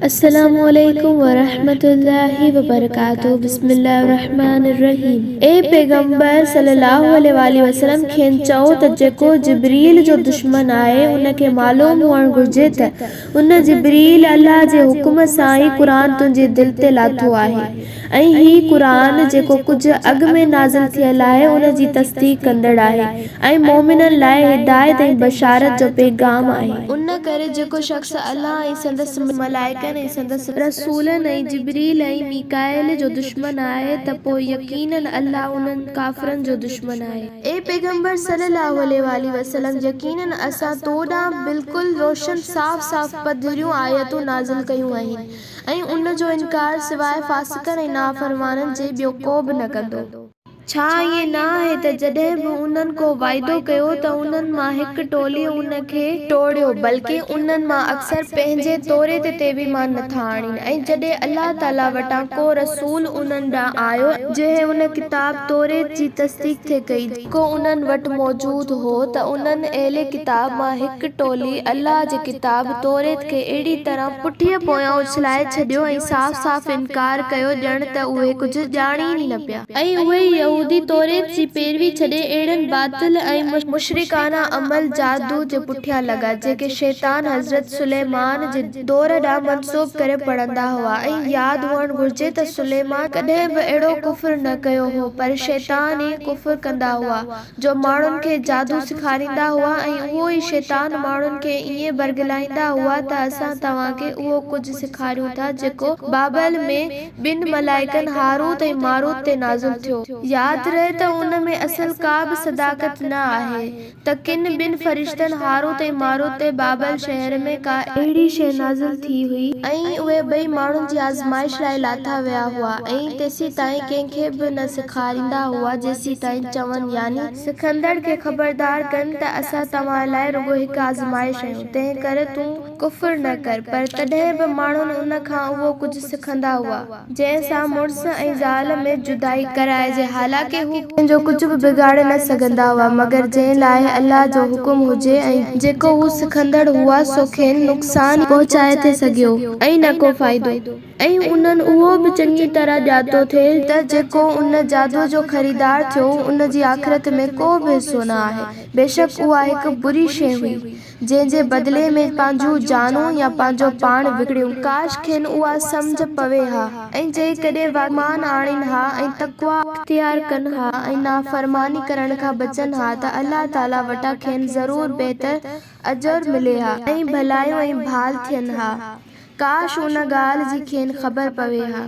السلام عليڪم ورحمة الله وبرڪاته بسم الله الرحمٰن الرحيم اي پيغمبر صلّي الله عليه واٰله وسلّم کين چئو ته جيڪو جبريل جو دشمن آهي ان کي معلوم هئڻ گهرجي ته ان، جبريل، الله جي حڪم سان ئي قرآن تنهنجي دل تي لاٿو آهي. ۽ هي قرآن جيڪو ڪجهه اڳ ۾ نازل ٿيل آهي ان جي تصديق ڪندڙ آهي ۽ مؤمنن لاء هدايت ۽ بشارت جو پيغام آهي. ان ڪري جيڪو شخص الله ۽ سندس ملائڪن ۽ سندس رسولن ۽ جبريل ۽ ميڪائيل جو دشمن آهي ته پوء يقيناً الله انهن، ڪافرن، جو دشمن آهي. اي پيغمبر صلّي اللّٰه عليه واٰله وسلّم! يقيناً اسان تو ڏانهن بلڪل روشن صاف صاف پڌريون آيتون نازل ڪيون آهن. ۽ ان جو انڪار سواء فاسقن ۽ نافرمانن جي ٻيو ڪو به نه ڪندو. ڇا ائين نه آهي ته جڏهن به انهن ڪو وعدو ڪيو ته انهن مان هڪ ٽوليء ان کي ٽوڙيو، بلڪ انهن مان اڪثر پنهنجي توريت تي به ايمان نٿا آڻين ۽ جڏهن الله تعاليٰ وٽان ڪو رسول انهن ڏانهن آيو، جنهن ان ڪتاب، توريت، جي تصديق ٿي ڪئي، جيڪو انهن وٽ موجود هو ته انهن اهل ڪتاب مان هڪ ٽولي الله جي ڪتاب توريت کي اهڙي طرح پٺيء پويان اڇلائي ڇڏيو ۽ صاف صاف انڪار ڪيو ڄڻ ته اهي ڪجهه ڄاڻين ئي نه پيا. ۽ اهي يهودي توريت جي پيروي ڇڏي اهڙن باطل ۽ مشرڪانه عمل جادو جي پٺيان لڳا جيڪي شيطان حضرت سليمان جي دور ڏانهن منسوب ڪري پڙهندا هئا ۽ ياد هئڻ گهرجي ته سليمان ڪڏهن به اهڙو ڪفر نه ڪيو هو پر شيطان ئي ڪفر ڪندا هئا جو ماڻهن کي جادو سيکاريندا هئا ۽ اهو ئي شيطان ماڻهن کي ائين برغلائيندا هئا ته اسان توهان کي اهو ڪجهه سيکاريون ٿا جيڪو بابل ۾ ٻن ملائڪن هاروت ۽ ماروت تي نازل ٿيو. ياد رهي ته ان ۾ اصل ڪا به صداقت نه آهي. ته ڪن ٻن فرشتن، هاروت ۽ ماروت، تي بابل شهر ۾ ڪا اهڙي شيء نازل ٿي هئي. ۽ اهي ٻئي ماڻهن جي آزمائش لاء لاٿا ويا هئا، ۽ تيسيتائين ڪنهن کي به نه سيکاريندا هئا، جيسيتائين چون، يعني. سکندڙ کي خبردار ڪن، ته اسان توهان لاء رڳو هڪ آزمائش آهيون، تنهنڪري تون. ڪفر نه ڪر، پر تڏهن به ماڻهن ان کان اهو ڪجهه سکندا هئا، جنهن سان مڙس ۽ زال ۾ جدائي ڪرائجي، حالانڪه هو ڪنهن جو ڪجهه به بگاڙي نه سگهندا هئا، مگر جنهن لاء الله جو حڪم هجي ۽. جيڪو هو سکندڙ هئا، سو کين نقصان ئي پهچائي ٿي سگهيو ۽ نه ڪو فائدو، ۽ انهن اهو به چڱي طرح ڄاتو ٿي ته جيڪو ان جادوء جو خريدار ٿيو، ان جي آخرت ۾ ڪو به حصو نه آهي، بيشڪ اها هڪ بري شيء هئي. جنهن جي بدلي ۾ پنهنجون جانون يا پنهنجو پاڻ وڪڻيون. ڪاش کين اها سمجهه پوي ها ۽ جيڪڏهن واقعي ايمان آڻين ها ۽ تقويٰ. اختيار ڪن ها ۽ نافرماني ڪرڻ کان بچن ها ته الله تعاليٰ وٽان کين ضرور بهتر اجر ملي ها ۽ ڀلايون ۽ ڀال ٿين ها. ڪاش ان ڳالهه جي کين خبر پوي ها.